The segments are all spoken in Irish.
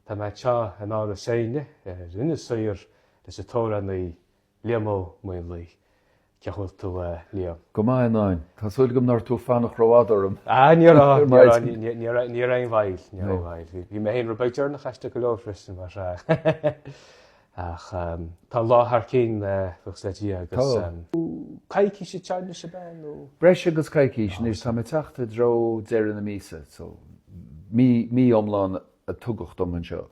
Tá mé anseo in Áras Éinne ar Inis Oírr leis an amhránaí Liam Ó Maonlaí. Cé chaoi bhfuil tú, Liam? Go maith, a Nain. Tá súil agam nach raibh tú ag fanacht rófhada orm. Ah, ní raibh, ní raibh, ní raibh, ní raibh aon bhail, ní raibh aon bhail. Bhí mé féin ro-bheag deireanach aisteach go leor freisin, mar. Ach tá an lá thar cinn, buíochas le Dia, agus coicís déanta anseo agat beagnach, nó. Breis agus coicís anois, tá mé ag teacht i dtreo deireadh na míosa, so mí iomlán a tugadh dom anseo.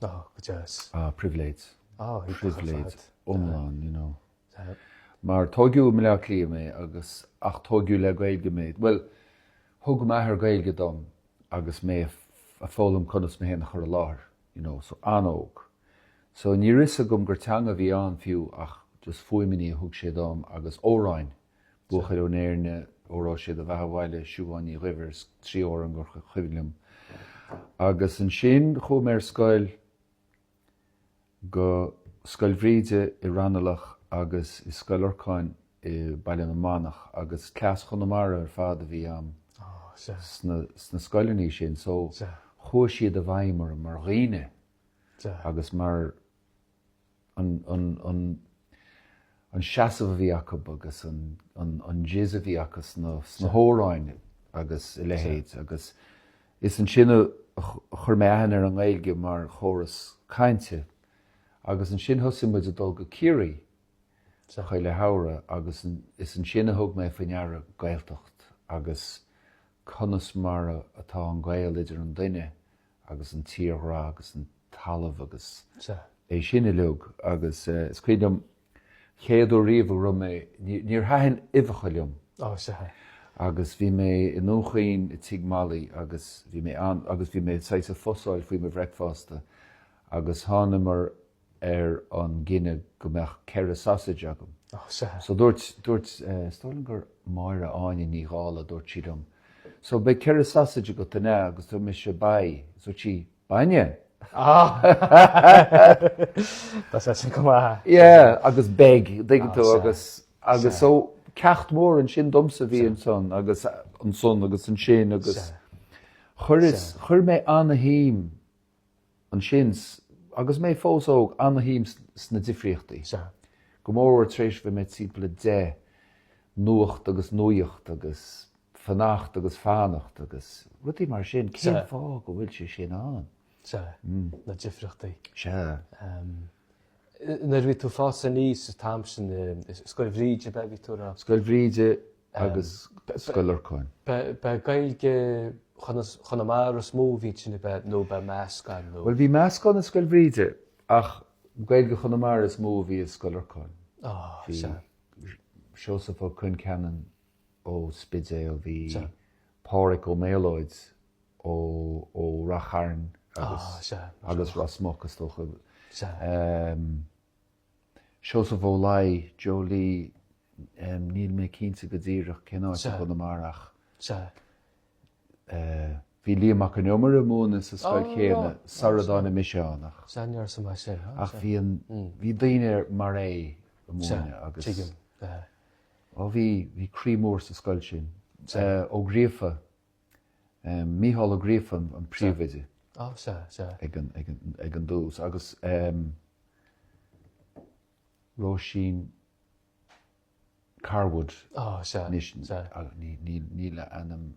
Go deas. Ah, pribhléid. Ah, pribhléid iomlán, you know. Mar tógadh i mBleá Cliath mé agus, ach tógadh le Gaeilge mé. Bhuel, thug m'athair Gaeilge dom, agus mé ag foghlaim conas mé féin a chur i láthair, you know, so an-óg. So ní raibh a fhios agam gur teanga a bhí ann fiú ach just fuaimainí a thug sé dom agus amhráin, Buachaill ón Éirne, Óró Sé do Bheatha Abhaile, Siubhán Ní Dhuibhir, trí amhrán gur cuimhin liom. Agus ansin chuaigh mé ar scoil. go Scoil Bhríde i Raghnallach agus i Scoil Lorcáin i Baile na Manach agus dream Chonamara ar fad a bhí ann sna scoileanna sin so chuaigh siad i bhfeidhm orm mar dhaoine agus mar an an seasamh a bhí acu agus an jizz a bhí acu sna hamhráin agus a leithéid agus is ansin a chuir mé aithne ar an nGaeilge mar chóras cainte agus ansin thosaigh muid ag dul go Ciarraí chuile shamhradh agus is ansin a thug mé faoi deara Gaeltacht agus conas mar atá an gaol idir an duine agus an tírdhreach agus an talamh agus é sin uilig agus is cuimhin liom chéad uair riamh a raibh mé, níor thaitin uibheacha liom agus bhí mé i nDún Chaoin i Tigh Mholly agus bhí mé ann agus bhí mé saghas ag fossáil faoi mo bhreicfeasta agus thángamar ar an gcinneadh go mbeadh ceithre sausage agam. Oh, sea. So dúirt, dúirt, is dóigh liom gur Máire Áine Ní Dhála, dúirt sí liom, so beidh ceithre sausage agat, an ea? Agus dúirt mise, Beidh, agus dúirt sí, Bainne? Ah! Tá sé sin go maith. Yeah, agus beig, dtuigeann tú, agus, agus so ceacht mór an sin domsa bhí ansan agus ansin, agus chuir mé ana-shuim Ansin, agus mé fós óg, an-shuim sna difríochtaí. Sea. Go mórmhór tar éis bhí mé timpeall a deich, nuacht agus nuaíocht agus fanacht agus fanacht agus rudaí mar sin, cén fáth go bhfuil sé sin ann? Sea, na difríochtaí. Sea. Nuair a bhí tú ag fás aníos an t-am sin, i Scoil Bhríde, ab ea a bhí tú a rá? Scoil Bhríde, agus Scoil Lorcáin. B'é Gaeilge Chonamara is mó a bhí inti nó b'é meascán nó. Bhuel, bhí meascán i Scoil Bhríde ach Gaeilge Chonamara is mó a bhí i Scoil Lorcáin. Bhí Seosamh Ó Concheanainn ón Spidéal, bhí Páraic Ó Méalóid ó Rath Chairn agus Rosmuc, is dócha. Seosamh Ó Laoi, Joe Lee, níl mé cinnte go díreach cén áit i gConamara ach bhí Liam Mac Con Iomaire ag múineadh sa scoil chéanna sara dtáinig mise ann ach bhí daoine mar é ag múineadh agus bhí croí mór sa scoil sin. Ó Gríofa. Mícheál Ó Gríofa an príomhoide ag an dtús agus Róisín Carwood níl a hainm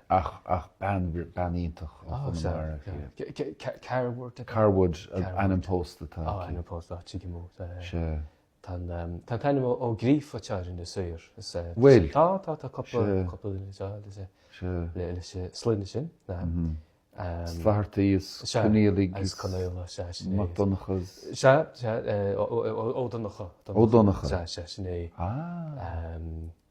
ach bean iontach ó Chonamara. Carwood an ainm pósta atá aici. Tá an t-ainm Ó Gríofa againne sa Suirbhé. Bhuel. Tá, tá, tá cúpla, cúpla duine anseo le, leis an sloinne sin. Is Flaherty, is Conghailigh, is Mac Donncha, is. Sea, sea, Ó Donncha. Ó Donncha. Sea, sea, sin é. Ah.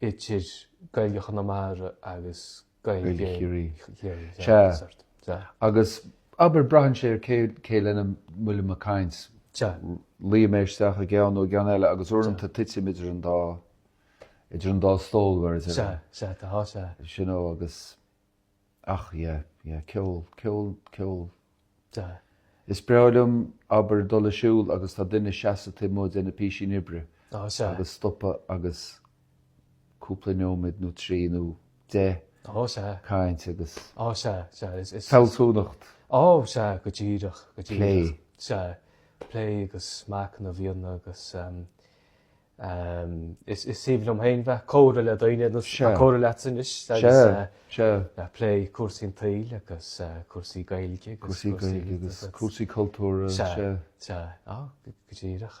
idir Gaeilge Chonamara agus Gaeilge Chiarraí. Sea. Sea. Agus, abair, braitheann sé ar cé, cé lena bhfuil mé ag caint. Sea. Luífidh mé isteach i gceann nó i gceann eile agus uaireanta titim idir an dá, idir an dá stól, whereas ever. Sea. Sea. Tá. Sea. You know, agus, Ach yeah, yeah, ceol, ceol, ceol. Duh. Is breá liom abair dul ag siúl agus tá duine ina sheasamh taobh amuigh de ina phísín oibre Ná sea. agus stopadh agus cúpla neoimid nó trí nó deich Ná sea. caint agus Ná sea, sea, is, is, fealsúnacht. Ná sea, go díreach, go díreach. Plé. Sea, plé agus machnamh, bhíonn agus, um, Is aoibhinn liom féin bheith ag comhrá le daoine nó ag comhrá leatsa anois agus ag plé cúrsaí an tsaoil agus cúrsaí Gaeilge agus cúrsaí cultúir. Sea, sea, go díreach.